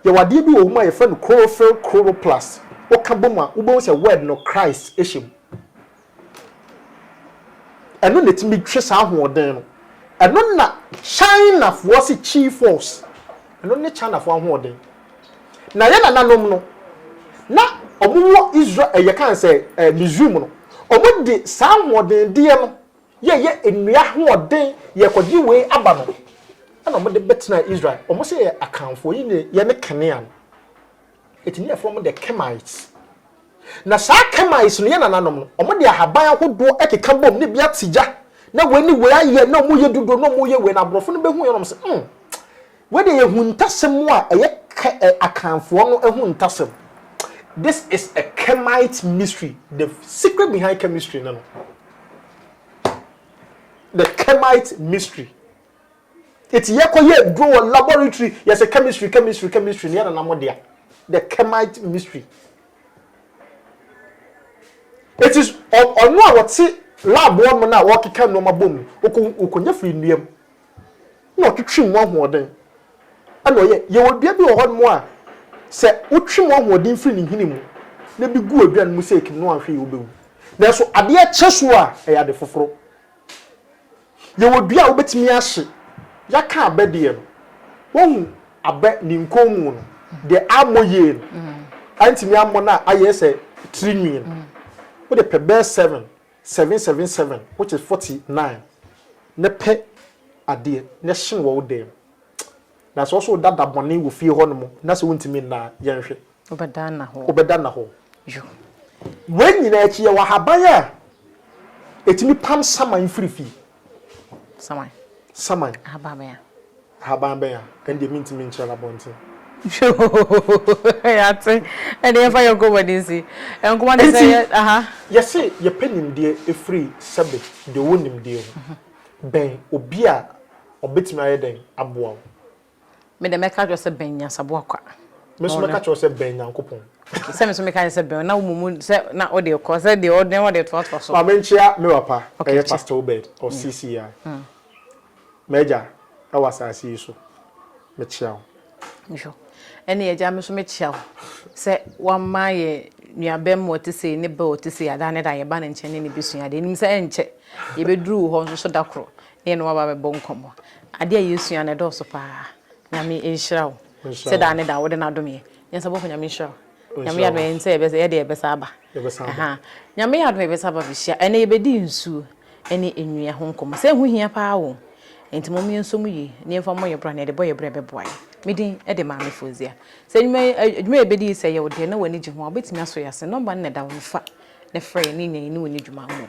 yɛwɔ adeɛ bi wɔ hɔ mu a yɛfrɛ no chlorophyll chloroplast woka bom a wobɛhu sɛ word no Christ hyɛ mu Ɛno na ɛtumi twe saa ahoɔden no. Ɛno na Chinafoɔ se Qi force. Ɛno ne Chinafoɔ ahoɔden. Na yɛn nananom no, na wɔn wɔ Israel, ɛyɛ kan sɛ eh, Misrim no, wɔn de saa ahoɔden deɛ no yɛ yɛ nnua ahoɔden yɛ kɔgye wei aba no, ɛna wɔn de bɛtena Israel. Wɔn se yɛ akanfoɔ, yi ne yɛ ne kanea no. Ɛtumi yɛ fam de Kemites. Na saa Kemites no yɛ nananom no, wɔn de ahaban ahodoɔ ɛkeka bom na ebi ate gya na wei ne wei ayɛ na wɔyɛ duduo na wɔyɛ wei na aborɔfo no bɛhu yɛ na wɔn sɛ hmm wei deɛ yɛ ahuntasɛm a ɛyɛ kɛ ɛ akanfoɔ no ahuntasɛm this is a Kemite mystery the secret behind chemistry no no the Kemite mystery. Eti yɛkɔ yɛ aduro wɔ laboratory yɛ sɛ chemistry chemistry chemistry neɛ nana mo dea the chemite mystery. Eti ɔno a wɔte lab hɔ nom na ɔkeka nnoɔma bom no ɔkɔ ɔkɔ nya firi nnua mu na ɔtwetwe mu ahoɔden ɛna ɔyɛ. Yɛwɔ dua bi wɔ hɔ nom a sɛ wotwe mu ahoɔden firi ne nhini mu na bi gu aduane mu sɛ ekim no anhwɛ yie wobɛwu. Nanso adeɛ kyɛ so a ɛyɛ ade foforo. Yɛwɔ dua a wobɛtumi ahye. Yɛaka abɛ deɛ no, woahu abɛ ne nkɔnmu no, deɛ ammɔ yie no, antumi ammɔ no a ayɛ sɛ tiri nwi no, wode pɛ bɛyɛ seven, seven seven seven which is forty nine na pɛ adeɛ na hye no wɔ wo dan mu. Na sɛ wo nso woda da bɔne wɔ fie hɔnom na sɛ wontumi nna a, yɛnhwɛ. Wobɛda nna hɔ. Wobɛda nna hɔ. Yo. Wei nyinaa akyi, yɛwɔ ahaban a ɛtumi pam saman firi fie. Saman? Saman. Ahaban bɛn a? Ahaban bɛn a? Ɛno deɛ mentumi nkyerɛ no abɔnten. Yɛate. Ɛnde yɛmfa yɛn nkɔmmɔ ani nsi. Nkɔmmɔ ne sɛ yɛ aha. Yɛse yɛpɛ nimdeɛ firi sɛbe deɛ ɔwɔ nimdeɛ ho. Bɛn obi a ɔbɛtumi ayɛ dɛn aboa wo. Me deɛ mɛka akyerɛ wo sɛ bɛn nyansaboa kwa. Me nso mɛka akyerɛ wo sɛ bɛn Nyankopɔn. Okay, sɛ me nso meka sɛ bɛn, na wo mumu sɛ na wode rekɔ, sɛ deɛ ɔde na wode retoatoa so. Ma menkyea me papa, ɛyɛ Pastor Obed, ɔwɔ CCEI. M'agya wɔ asase yi so, mekyea wo. Sure. Ɛnneɛ agya, me nso mekyea wo sɛ woama yɛn nuabarimaa ɔte sei ne ba ɔte sei a, da ne da yɛba ne nkyɛn ne no bɛsua adeɛ. Nim sɛ ɛnkyɛ yɛbɛduru wo hɔ nso so da koro. Me ne wo aba bɛbɔ nkɔmmɔ. Adeɛ a yɛsua no ɛdɔɔso paa. Nyame nhyira wo sɛ daa ne daa wode no adom yɛn. Nyansabɔfo Nyame nhyira wo. Nyame yɛ adom a yɛnim sɛ yɛdeɛ yɛbɛsan aba. Ahaa. Nyame yɛ adom a yɛbɛsan aba abɛhyia. Ɛnnɛ yɛbɛdi nsuo ne nnua ho nkɔmmɔ. Sɛ ɛho hia paa o. Enti mom yɛnsɔ mu yie na yɛmfa mmɔ yɛn bra na yɛde bɔ yɛn bra a ɛbɛboa yɛn. Me din de Maame Fozia. Sɛ nnwuma yi adwuma a yɛbɛdi yi sɛ ɛyɛ wo dɛ na w'ani gye ho a wobɛtumi asɔ yɛn ase. Nɔmba no na ɛda hɔ no fa na frɛ yɛn na yɛanya yɛne wo adi dwuma mmom.